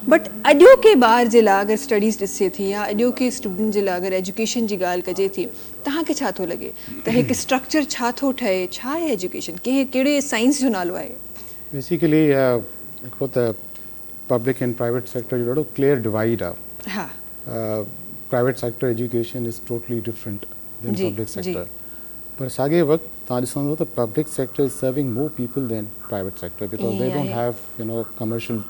But اڄوڪي ٻار جي لاء اگر اسٽڊيز ڏسجي ٿي يا اڄوڪي اسٽوڊنٽ جي لاء اگر ايجوڪيشن جي ڳالهه ڪجي ٿي توهان کي ڇا ٿو لڳي ته هڪ اسٽرڪچر ڇا ٿو ٺهي ڇا آهي ايجوڪيشن ڪنهن ڪهڙي سائنس جو نالو آهي. بيسيڪلي هڪڙو ته پبلڪ اينڊ پرائيويٽ سيڪٽر جو ڏاڍو ڪليئر ڊوائيڊ آهي private sector education is totally different than public sector پر ساڳي وقت توهان ڏسندو ته public sector is serving more people than private sector because they don't have you know commercial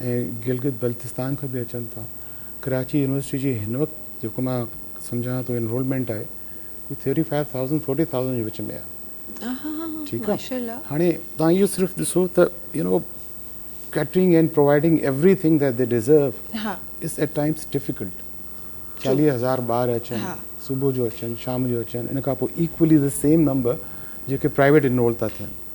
۽ Gilgit Baltistan کان به اچن ٿا ڪراچي يونيورسٽي جي هن وقت جيڪو مان سمجهان ٿو انرولمينٽ آهي ڪجهه thirty five thousand forty thousand جي وچ ۾ آهي ٺيڪ آهي هاڻي تان اهو صرف ڏسو ته you know catering and providing every thing that they deserve is at times difficult چاليهه هزار ٻار اچن صبح جو اچن شام جو اچن ان کان پوء ايڪولي دي سيم نمبر جيڪي پرائيويٽ انرول ٿا ٿين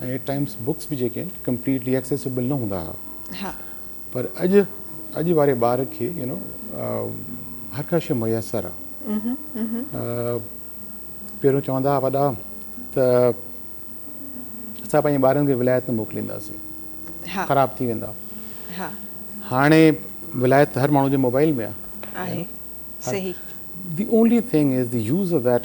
۽ ايٽ ٽائمز بڪس به جيڪي آهن ڪمپليٽلي ايڪسيسبل نه هوندا هئا پر اڄ اڄ واري ٻار کي يو نو هر ڪا شيء ميسر آهي پهريون چوندا هئا وڏا ته اسان پنهنجي ٻارن کي ولايت نه موڪلينداسين خراب ٿي ويندا هاڻي ولايت هر ماڻهو جي موبائل ۾ آهي صحيح the only thing is the use of that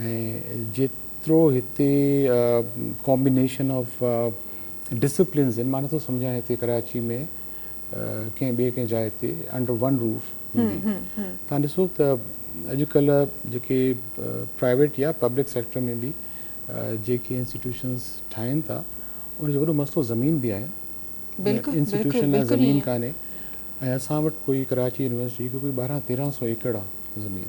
۽ جيترو هتي ڪامبينيشن آف ڊسپلنز آهن مان نٿو سمجهان هتي ڪراچي ۾ ڪنهن ٻي ڪنهن جاء تي انڊر ون روف هوندي تان ڏسو ته اڄڪلهه جيڪي پرائيويٽ يا پبلڪ سيڪٽر ۾ به جيڪي انسٽيٽيوشنز ٺاهين ٿا ان جو وڏو مسئلو زمين به آهي بلڪل انسٽيٽيوشن لاء زمين ڪانهي ۽ اسان وٽ ڪوئي ڪراچي يونيورسٽي کي ڪوئي ٻارهن تيرهن سو ايڪڙ آهي زمين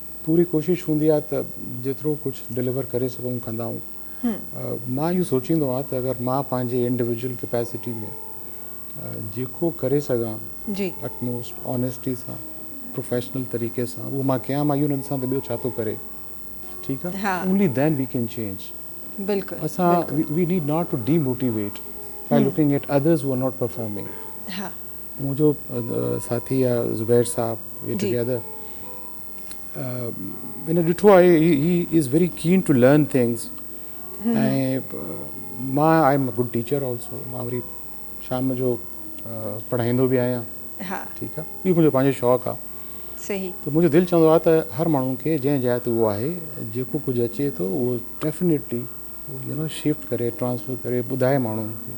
پوري ڪوشش هوندي آهي ته جيترو ڪجهه ڊليور ڪري سگهون ڪندا آهيون. مان اهو سوچيندو آهيان ته اگر مان پنهنجي انڊيوڊيول ڪيپيسٽي ۾ جيڪو ڪري سگهان اٽ موسٽ آنيسٽي سان پروفيشنل طريقي سان اهو مان ڪيان مان اهو نه ڏسان ته ٻيو ڇا ٿو ڪري ٺيڪ آهي only then we can change بلڪل اسان we need not to demotivate by looking at others who are not performing منهنجو ساٿي يا زبير صاحب وي ٽوگيدر هن ڏٺو آهي he is very keen to learn things ۽ مان I am a good teacher also مان وري شام جو پڙهائيندو به آهيان ٺيڪ آهي اهو منهنجو پنهنجو شوق آهي صحيح ته منهنجو دل چوندو آهي ته هر ماڻهو کي جنهن جاء تي اهو آهي جيڪو ڪجهه اچي ٿو اهو ڊيفنيٽلي يو نو شفٽ ڪري ٽرانسفر ڪري ٻڌائي ماڻهن کي